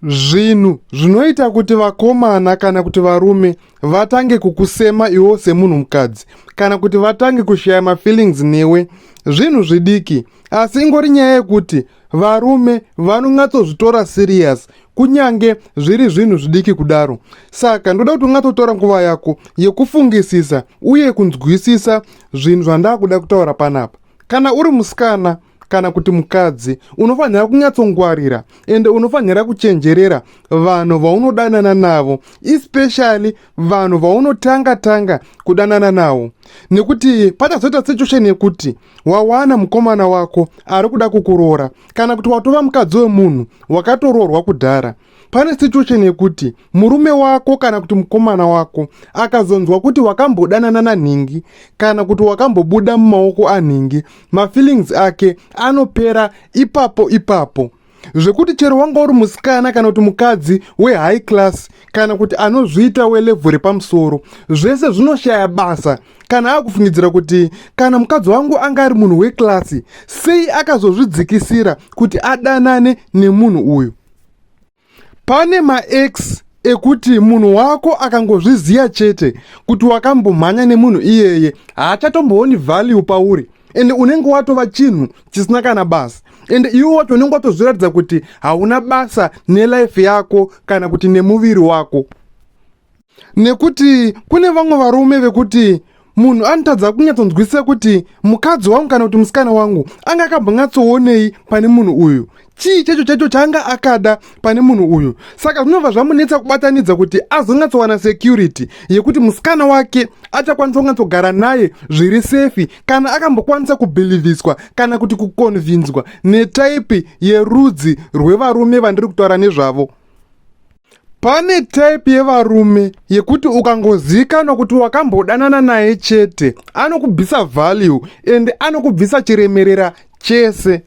Zvinhu zvinoita kuti vakomana kana kuti varume vatange kukusema iwo semunhu mukadzi kana kuti vatange kushaya mafeelings newe zvinhu zvidiki asi ingori nyaya yekuti varume vanonyatsozvitora serious kunyange zviri zvinhu zvidiki kudaro saka ndoda kuti ungatsotora nguva yako yekufungisisa uye kunzwisisa zvinhu zvandakuda kutaura panapa kana uri musikana kana kuti mukadzi unofanira kunyatsongwarira ende unofanira kuchenjerera vanhu vaunodanana navo especially vanhu vaunotanga tanga kudanana navo nekuti pachazoita situation yekuti wawana mukomana wako ari kuda kukuroora kana kuti watova mukadzi wemunhu wakatoroorwa kudhara pane situation yekuti murume wako kana kuti mukomana wako akazonzwa kuti wakambodanana nanhingi kana kuti wakambobuda mumaoko anhingi mafeelings ake anopera ipapo ipapo zvekuti chero wanga uri musikana kana kuti mukadzi wehigh class kana kuti anozviita welevhu repamusoro zvese zvinoshaya basa kana akufungidzira kuti kana mukadzi wangu anga ari munhu weklasi sei akazozvidzikisira kuti adanane nemunhu uyu pane maex ekuti munhu wako akangozviziva chete kuti wakambomhanya nemunhu iyeye haachatombooni value pauri ende unenge watova chinhu chisina kana basa ende iwe wacho unenge watozviratidza kuti hauna basa nelife yako kana kuti nemuviri wako nekuti kune vamwe varume vekuti munhu anotadza kunyatsonzwisisa kuti mukadzi wangu kana kuti musikana wangu anga akambonyatsoonei pane munhu uyu chii chacho chacho chaanga akada pane munhu uyu saka zvinobva zvamunetsa kubatanidza kuti azonyatsowana security yekuti musikana wake achakwanisa kunyatsogara naye zviri sefi kana akambokwanisa kubhilivhiswa kana kuti kukonvinzwa netaipi yerudzi rwevarume vandiri kutaura nezvavo Pane type yevarume yekuti ukangozikanwa kuti wakambodanana naye chete anokubvisa value and anokubvisa chiremerera chese.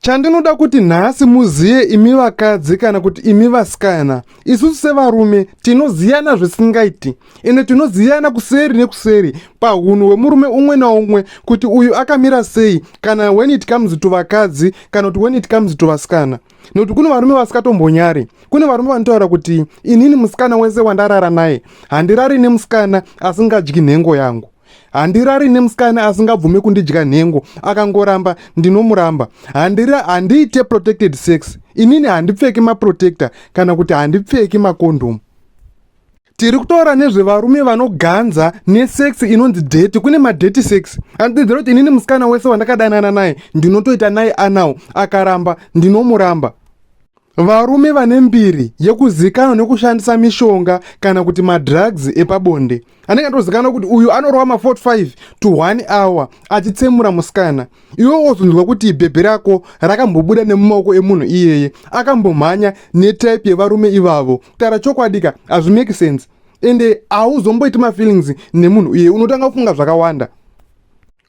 Chandinoda kuti nhasi muziye imi vakadzi kana kuti imi vasikana, isusu sevarume tinoziyana zvisingaiti ende tinoziyana kuseri nekuseri pahunhu hwemurume umwe naumwe kuti uyu akamira sei kana when it comes to vakadzi kana kuti when it comes to vasikana. nekuti kune varume vasingatombonyari kune varume vanotaura kuti inini musikana wese wandarara naye handirari nemusikana asingadyi nhengo yangu handirari nemusikana asingabvume kundidya nhengo akangoramba ndinomuramba handiite protected sex inini handipfeki maprotector kana kuti handipfeki makondhomu tiri kutaura nezvevarume vanoganza nesex inonzi deti kune madeti sex andidzira kuti inini musikana wese wandakadanana naye ndinotoita naye anawo akaramba ndinomuramba varume vane mbiri yekuzikanwa nekushandisa mishonga kana kuti madrugs epabonde anenge atozikanwa kuti uyu anorova ma45 to 1 hour achitsemura musikana iwe wozonzwa kuti bhebhe rako rakambobuda nemumaoko emunhu iyeye akambomhanya netype yevarume ivavo kutaura chokwadi ka hazvimake sense ende hauzomboiti mafeelings nemunhu iyeye unotanga kufunga zvakawanda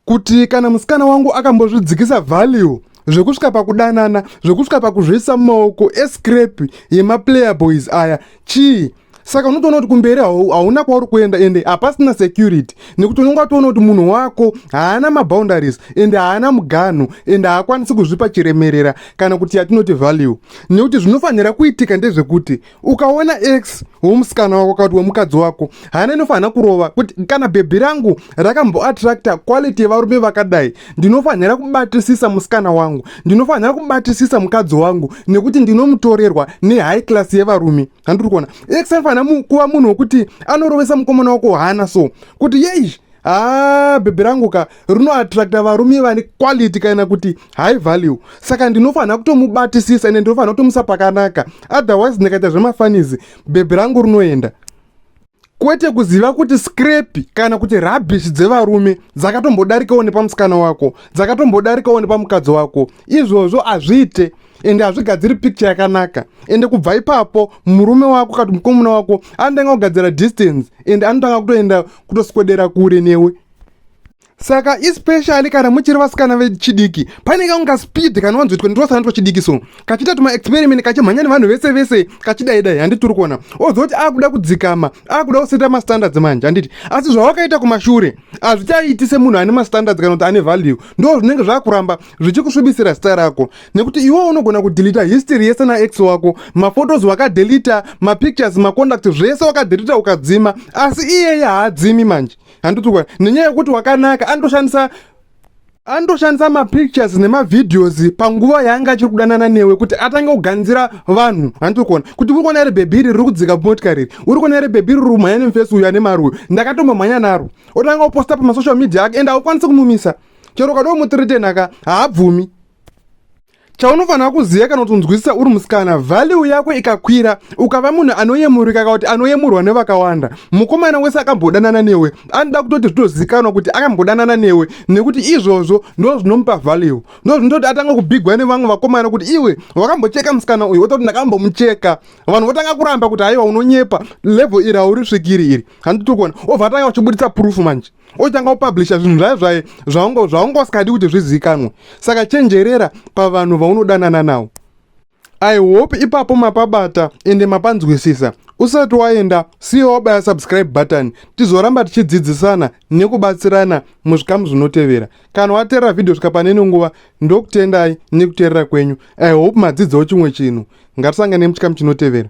kuti kana musikana wangu akambozvidzikisa value zvekusvika pakudanana zvekusvika pakuzviisa mumaoko escrape yemaplayerboys aya chii saka unotoona kuti kumberi hauna kwauri kuenda ende hapasina security nekuti unenge watoona kuti munhu wako haana maboundaries ende haana muganho ende haakwanisi kuzvipa chiremerera kana kuti yatinoti value nekuti zvinofanira kuitika ndezvekuti ukaona x womusikana wako kana kuti wemukadzi wako haana inofanira kurova kuti kana bhebhi rangu rakamboattracta quality yevarume vakadai ndinofanira kubatisisa musikana wangu ndinofanira kubatisisa mukadzi wangu nekuti ndinomutorerwa nehigh class yevarume handiri kuona ex anofanira kuva munhu wekuti anorovesa mukomana wako hana so kuti yeish haa ah, bhebhi rangu ka rinoattracta varume vane quality kana kuti high value saka ndinofanira kutomubatisisa ende ndinofanira kutomusa pakanaka otherwise ndikaita zvemafanizi bhebhi rangu rinoenda kwete kuziva kuti skrepi kana kuti rabhishi dzevarume dzakatombodarikawo nepamusikana wako dzakatombodarikawo nepamukadzi wako izvozvo hazviite ende hazvigadziri picture yakanaka ende kubva ipapo murume wako kati mukomuna wako anotanga kugadzira distance ende anotanga kutoenda kutoswedera kure newe saka especially kana muchiri vasikana vechidiki pane kamwe kaspeed kanowanzoitwa ndirosana twachidiki so kachiita tuma experiment kachimhanya nevanhu vese vese kachidai dai handiti uri kuona ozoti akuda kudzikama akuda kuseta mastandards manje handiti asi zvawakaita kumashure hazvichaiti semunhu ane mastandards kana kuti ane value ndo zvinenge zvakuramba zvichikusvibisira zita rako nekuti iwe unogona kudelita history yese naex wako maphotos wakadelita mapictures maconduct zvese wakadelita ukadzima asi iyeye haadzimi manje handiti kwa nenyaya yekuti wakanaka anotoshandisa anotoshandisa mapictures nemavideos panguva yaanga achiri kudanana newe kuti atange kuganzira vanhu handiti kuona kuti uri kuona iri bhebhi iri riri kudzika motikari iri uri kuona iri bhebhi iri rumhanya nemufesi uyu ane mari uyu ndakatombomhanya naro otanga kuposta pamasocial media ake ende haukwanisi kumumisa chero ukadoo mutiritenaka haabvumi chaunofanira kuziva kana kuti unzwisisa uri musikana value yako ikakwira ukava munhu anoyemurika ka kuti anoyemurwa nevakawanda mukomana wese akambodanana newe anoda kutoti zvitozivikanwa kuti akambodanana newe nekuti izvozvo ndo zvinomupa value ndo zvinoita kuti atanga kubigwa nevamwe vakomana kuti iwe wakambocheka musikana uyu wototi ndakambomucheka vanhu votanga kuramba kuti haiwa unonyepa level iri haurisvikiri iri handitokona obva atanga uchibuditsa proof manje otanga kupublisha zvinhu zvayo zvaye zvaunga zvaunga usikadi kuti zvizivikanwe saka chenjerera pavanhu vaunodanana nawo i hope ipapo mapabata ende mapanzwisisa usati waenda siya wabaya subscribe button tizoramba tichidzidzisana nekubatsirana muzvikamu zvinotevera kana wateerera vhidhiyo svika pane ino nguva ndokutendai nekuteerera kwenyu i hope madzidzawo chimwe chinhu ngatisangane muchikamu chinotevera